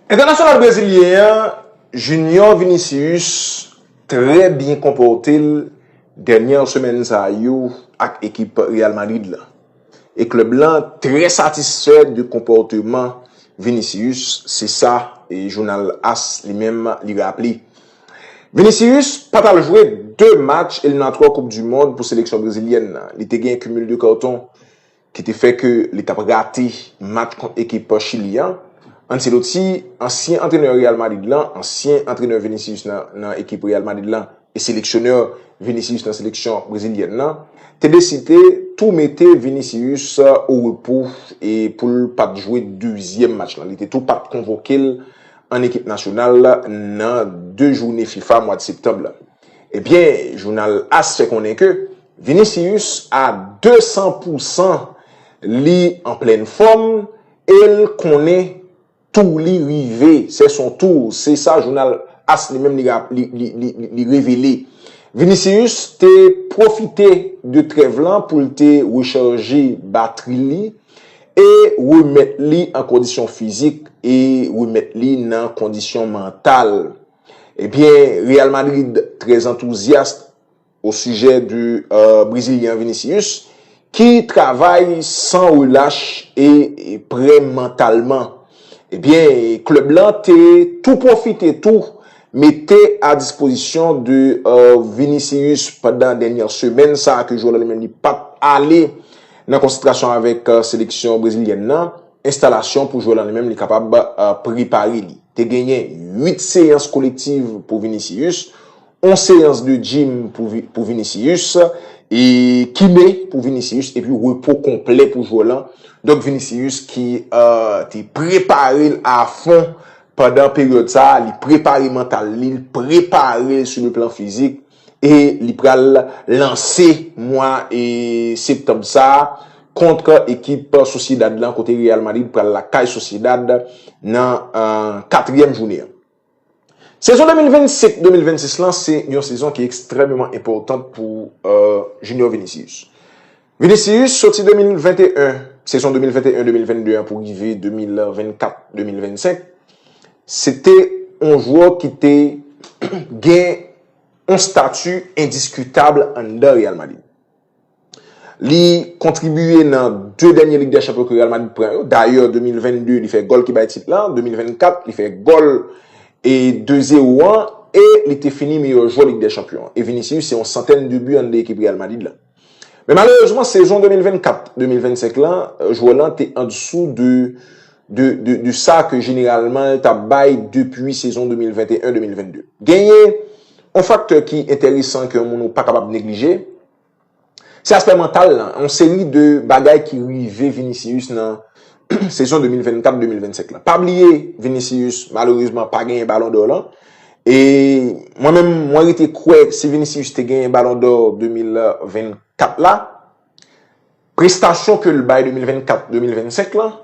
Entènasyonal brezilyen an Junior Vinicius trè byen konpòte l dènyè semèn sa yo ak ekip Real Madrid la e klèb lan trè satisfè de konpòteman Vinicius se sa jounal as li menm li raple. Vinicius pa t al jwe 2 match eliminatwa koup du mond pou seleksyon brezilyèn nan li te gen cumul de carton. ki te fè ke li tap rate match kont ekip Chili an, Ancelotti, ansyen antrenè Real Madrid lan, ansyen antrenè Vinicius nan ekip Real Madrid lan e seleksyonè Vinicius nan seleksyon brezilyèn lan, te deside tou mete Vinicius orepo e pou l pat jwe dezyèm match lan. Li te tou pat konvoke l an ekip nasyonal nan 2 joune fifa mwad septanb lan. Ebyen, jounal as fè konnen ke Vinicius a 200 pou san li an plèn fòm el konnen tou li rive, sè son tou, se sa jounal as li menm li revele. Vinicius te pwofite de trèv lan pou l te rechaje batri li e remèt li an kondisyon fizik e remèt li nan kondisyon mantal. Ebyen Real Madrid très enthousiaste au sujet de Brésilien Vinicius ki travay san relach e prè mantalman. Ebyen club lan te tou profite tou mete a dispozisyon de Vinicius pandan dènyè semèn sa ke jwè lan li menm li pat ale nan konsantrasyon avèk seleksyon Brezilyèn nan. Enstalasyon pou jwè lan li menm li kapab prepare li. Te genyen 8 seyans kolektiv pou Vinicius, 1 seyans de gym pou Vinicius, e kine pou Vinicius epi repo konplè pou jwè lan. Donk Vinicius ki te prepare l a fon pandan peryòd sa a, li prepare mantal li, li prepare l sou le plan fizik. E li pral lanse mwa septanm sa a kont ekip Sociedad lan kote Real Madrid pral lakay Sociedad nan katriyèm joune an. Sezon 2025, 2026 lan se yon sezon ki ekstrèmeman enpòtan pou Junior Vinicius. Vinicius soti 2021, sezon 2021, 2022 an pou rive 2024, 2025, se te yon jwè ki te gen yon stati endiskitab anndan Real Madrid. Li kontribiye nan 2 dènye Lig dè Chanpyon ke Real Madrid pran yo, dayè 2022 li fè gòl ki bay tit lan, 2024 li fè gòl e 2 zewo an e li te fini meyè jwè Lig dè Chanpyon an. E Vinicius se yon santèn de bi anndan ekip Real Madrid lan. Men malerezman sezon 2024, 2025 lan, jwè lan te andisou de sa ke jeneralman l tap bay depi sezon 2021, 2022. Genyen yon faktè ki enteresan ke yon moun ou pa kapab neglije, se aspè mantal lan, yon seri de bagay ki rive Vinicius nan sezon 2024, 2025 lan. Pa bliye Vinicius malerezman pa genyen balon dò lan, E mwen menm mwen rete kwè si Vinicius te genyen balon dò 2024 la, prestasyon ke l bay 2024, 2025 lan,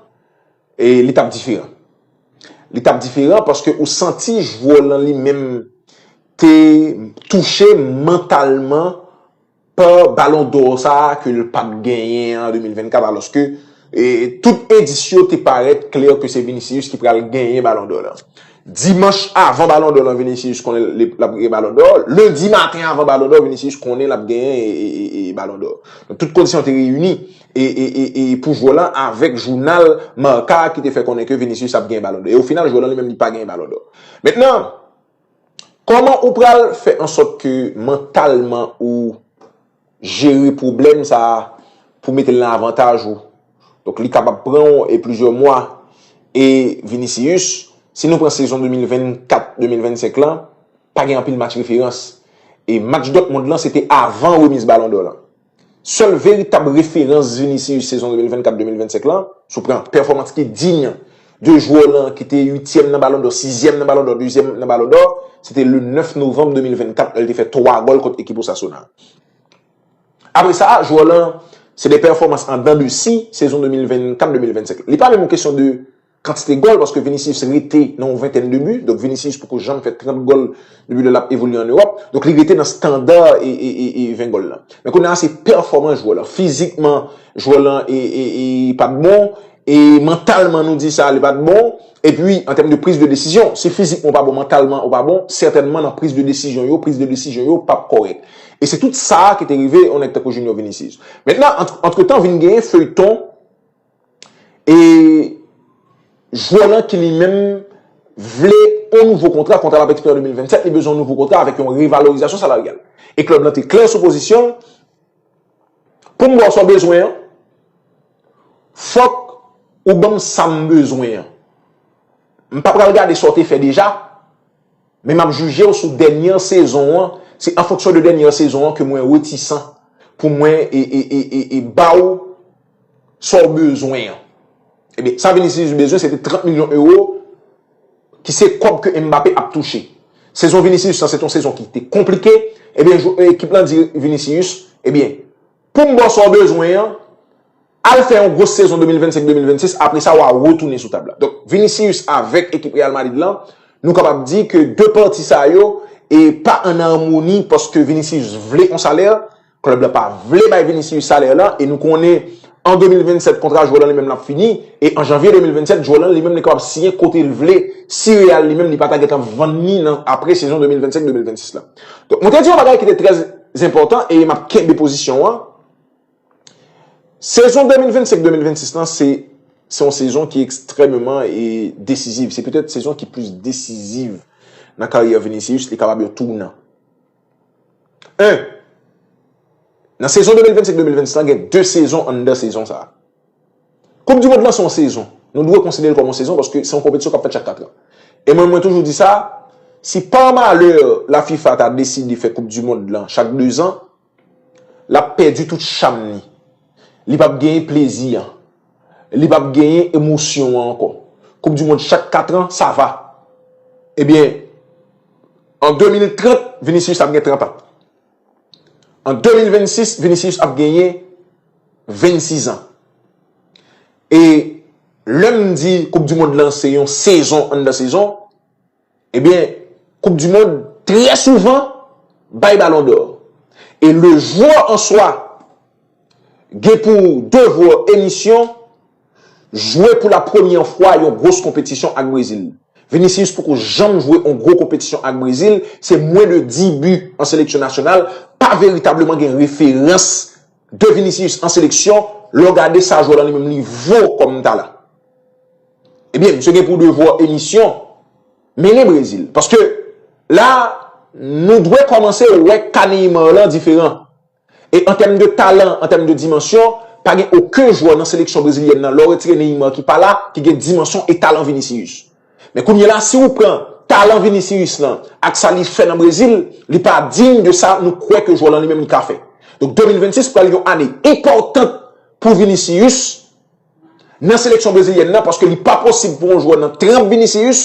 e li tap diferan. Li tap diferan paske ou santi jwè w lan li menm te touche mantalman. pa Ballon d'Or sa a ke l pat genyen an 2024 alòske tout endis yo te parèt klè ke se Vinicius ki pral genyen Ballon d'Or lan. Dimanch avan Ballon d'Or lan Vinicius konnen l ap genyen Ballon d'Or, Lendi maten avan Ballon d'Or Vinicius konnen l ap genyen Ballon d'Or. Donk tout kondisyon te reyini pou jwè lan avèk jounal Marca ki te fè konnen ke Vinicius ap genyen Ballon d'Or. E o final jwè lan li menm li pa genyen Ballon d'Or. Mentnan, Kòman ou pral fè ansòt ke mantalman ou jere pwoblèm sa a pou mete l nan avantaj ou? Donk li kapab pran ou e plizyè mwa. E Vinicius, si nou pran sezon 2024, 2025 lan, pa gen anpil match referans. E match Dortmund lan se te avan remiz balon dò lan. Sèl veritab referans Vinicius sezon 2024, 2025 lan, si w pran pèfòmans ki diy de jwè lan ki te uityèm nan Balon dò, sizyèm nan Balon dò, dezyèm nan Balon dò, se te le 9 novanm 2024 lè l te fè 3 gòl kont ekip Osasuna. Apre sa, jwè lan se de pèfòmans an dan de si sezon 2024, 2025. Li pa menm yon kesyon de kantite gòl paske Vinicius rete nan yon ventèn de bi, donk Vinicius poko janm fè 30 gòl depi lè l ap evolye an Ewòp, donk li rete nan standa 20 gòl lan. Men kounye a se pèfòmans jwè lan, fizikman jwè lan pa t bon, e mantalman nou di sa li pa t bon, epi an tèm de priz de desizyon, si fizikman ou pa bon mantalman ou pa bon, sètènman nan priz de desizyon yo, priz de desizyon yo pap kòrèk. E se tout sa ki te rive yon nèg tankou Junior Vinicius. Mentnan, antretan vin genyen feyton. E jwè lan ki li menm vle yon nouvo kontra, kontra l ap ekspire an 2027, li bezwen yon nouvo kontra avèk yon revalorizasyon salaryal. E klèb lan te klè sou pozisyon l, Pou m ba w sa w bezwen an, fòk ou ban m sa m bezwen an. M pa pral gade sa w te fè deja, men m ap jije w sou dènye sezon an, se an fonksyon de dènye sezon an ke mwen retisan pou mwen ba w. sa w bezwen an. Ebyen, sa Vinicius te bezwen se te 30 milyon ewo ki se kòb ke Mbappé ap touche. Sezon Vinicius lan se te yon sezon ki te konplike, ebyen ekip lan di Vinicius, ebyen, pou m ba w sa w bezwen an, al fè yon gwo sezon 2025-2026, apre sa w a retounen sou tab la. Donk, Vinicius avèk ekip Real Madrid lan, nou kapab di ke 2 pati sa yo e pa an amoni paske Vinicius vle yon salè, Club la pa vle bay Vinicius salè la e nou konnen an 2027 kontra jwè lan li menm lan ap fini e an janvye 2027 jwè lan li menm li kapab siyen kote l vle si Real li menm li pa ta gentan vann ni nan apre sezon 2025, 2026 la. Donk mwen te di yon bagay ki te trè zenpòtan e m ap kenbe pozisyon an, sezon 2025, 2026 lan se se yon sezon ki ekstrèmeman e desiziv, se petèt sezon ki plis desiziv nan karyè Vinicius li kapab yon tounant. 1. Nan sezon 2025, 2026 la gen 2 sezon anndan sezon sa a. Koup di mond lan se yon sezon. Nou dwe konsidere l kòm yon sezon paske se yon konpetisyon k ap fèt chak 4 an. E mwen mwen toujou di sa, si pa malè la fifa ta deside fè koup di mond lan chak 2 zan, l ap pèdi tout cham li. Li p ap genyen plezi an. li pap genyen emosyon an ankò. Koup di mond chak 4 an, sa va. Ebyen, an 2030, Vinicius ap gen 30 an. An 2026, Vinicius ap genyen 26 an. E lè m di koup di mond lan se yon sezon anndan sezon, Ebyen, koup du mond trè souvan bay balon dò. E le jwè an swa gen pou devwa e misyon jwe pou la premyè fwa yon gwos konpetisyon ak Brezil. Vinicius poko janm jwe on gwo konpetisyon ak Brezil, se mwen de 10 bi an seleksyon nasyonal, pa veritableman gen referans de Vinicius an seleksyon lè w gade sa jwè lan li menm li vo kòm talan. Ebyen misye gen pou devwa emisyon mennen Brezil. Paske la nou dwe kòmanse wè ka Neymar lan diferan. E an tèm de talan, an tèm de dimansyon, pa gen oken jwè nan seleksyon brezilyèn nan lè w retire Neymar ki pa la ki gen dimansyon e talan Vinicius. Men kounye la si ou pran talan Vinicius lan ak sa li fè nan Brezil, li pa diy de sa nou kwè ke jwè lan li menm li ka fè. Donk 2026 pral yon ane enpòtan pou Vinicius. nan seleksyon brezilyèn nan paske li pa posib pou yon jwè nan tremp Vinicius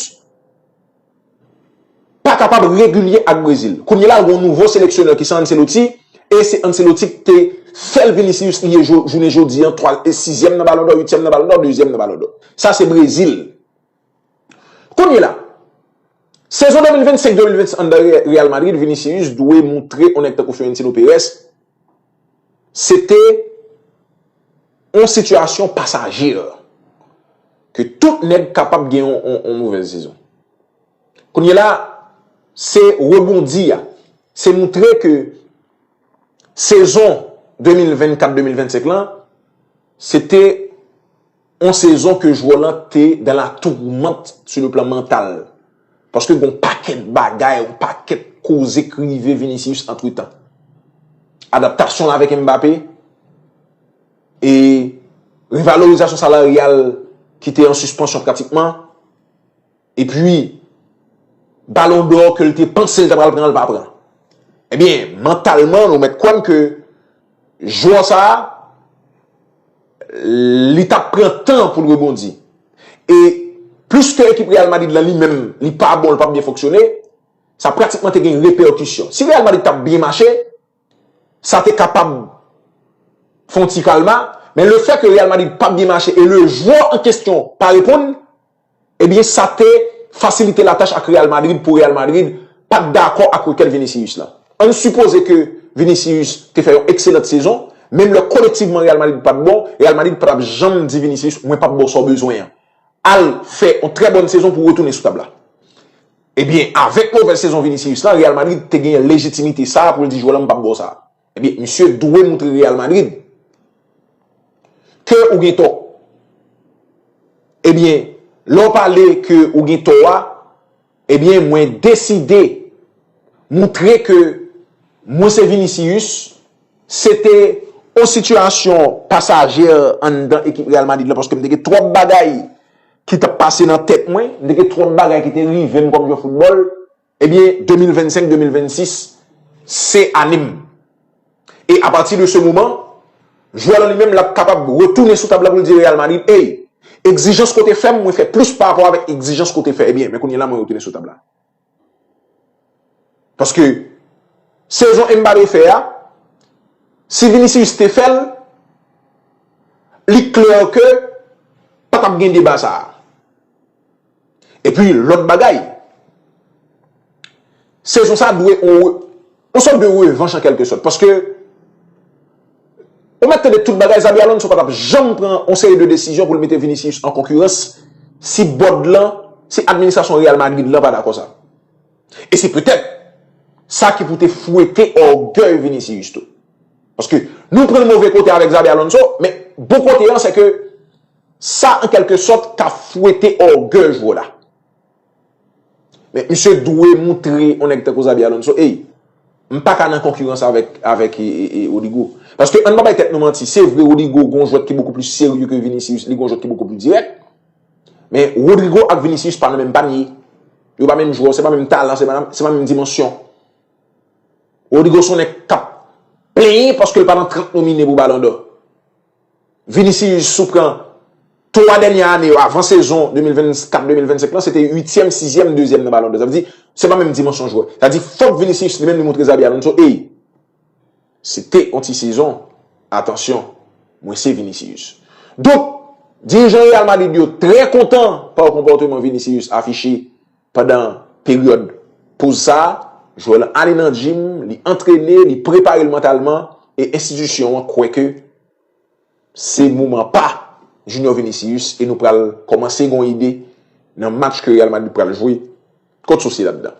pa kapab regilye ak Brezil. Kounye la gen yon nouvo seleksyonè ki se Ancelotti e se Ancelotti ki te fèl Vinicius li ye jounen jodi an 3 e 6 zyèm nan balondò 8 zyèm nan balondò 2 zyèm nan balondò. Sa se Brezil. Kounye la, sezon 2025-2026 anndan Real Madrid, Vinicius dwe moutre yon nèg tankou Florentino Perez se te yon sitiyasyon pasaje, ke tout nèg kapab gen yon mouvèz sezon. Kounye la, se rebondi a, se moutre ke sezon 2024-2025 lan, se te On sezon ke jwè lan te dans la tourmente sur le plan mental. Paske gon pakèt bagay, on pakèt koze k rive Vinicius antretan. Adaptasyon l avèk Mbappé e revalorizasyon salaryal ki te an sispansyon pratikman. E pwi, balon dò ke l te panse l ta pral pran l pa pran. E byen, mantalman nou mèt kwè m ke jwè sa, li ta pran tan pou l rebondi. E plis ke ekip Real Madrid la li menm li pa bon, li pa byen fonksyone, sa pratikman te gen repèkisyon. Si Real Madrid ta byen mache, sa te kapab fon ti kalma, men le fè ke Real Madrid pa byen mache e le jwè an kestyon pa reponn, Ebyen sa te fasilite latach ak Real Madrid pou Real Madrid pat dakò ak rekèt Vinicius la. Ann sipoze ke Vinicius te fè yon ekselant sezon, menm lè kolektivman Real Madrid pat bon, Real Madrid pa tap janm di Vinicius mwen pap baw sa w bezwen an. Al fè yon trè bòn sezon pou w retounen sou tab la. Ebyen avèk movèz sezon Vinicius la, Real Madrid te genyen lejitimite sa a pou l di jwè lan m pap baw sa a. Ebyen misye dwe moutre Real Madrid ke ou gen tò. Ebyen lè ou pale ke ou gen tò a, ebyen mwen deside moutre ke mwen se Vinicius, se te yon sitiyasyon pasaje anndan ekip Real Madrid la paske m te gen twòp bagay ki t ap pase nan tèt mwen, m te gen twòp bagay ki te rive m kòm jwè foutbòl. Ebyen 2025 2026 se ane m. E a pati de se moman, jwè lan li menm lap kapab retounen sou tab la pou l di Real Madrid ey, egzijans ke w te fè m mwen fè plis pa rapò avèk egzijans ke w te fè ebyen men kounye la mwen retounen sou tab la. Paske sezon Mbappé fè a, si Vinicius te fè l, li klè ke pa tap gen deba sa a. Epi lòt bagay, sezon sa dwe yon sòt de revanch an kèlke sòt. Paske, ou mèt tande tout bagay, Xabi Alonso pa t ap janm pran yon seri de desizyon pou l mete Vinicius an konkirans si bòd lan, si administrasyon Real Madrid lan pa dakò sa. E se petèt sa ki pou te fwete ògèy Vinicius tou. Paske, nou pran l move kote avèk Xabi Alonso, men bon kote an se ke, Sa an kèlke sòt ka fwete ògèj w la. Men misye dwe moutre yon nèg tankou Xabi Alonso, ey, m pa ka nan konkirans avèk Rodrygo. Paske an n pa bay tèt nou manti, se vre Rodrygo gen yon jwèt ki bokou plis serye ke Vinicius, li gen yon jwèt ki bokou plis dirèk. Men Rodrygo ak Vinicius pa nan menm panye. Yo pa menm jwè, se pa menm talan, se pa menm dimansyon. Rodrygo se yon nèg k ap plenyen paske l pa nan 30 nomine pou balon dò. Vinicius sou pran 3 dènyè ane yo avan sezon 2024-2025 lan se te uityèm, sizyèm, dezyèm nan Ballon d'Or. Sa vle di, se pa menm dimansyon jwè. Sa vle di, fòk Vinicius li menm li montre Xabi Alonso, ey, se te yon ti sezon, atansyon, mwen se Vinicius. Donk, dirijan Real Madrid yo trè kontan pa konpòteman Vinicius afiche. Pandan peryòd poz sa, jwè lan ale nan jim, li antrene, li prepare l mantalman e enstitisyon an kwè ke se moman pa Junior Vinicius e nou pral kòmanse gen yon ide nan match ke Real Madrid pral jwe kont Sociedad lan.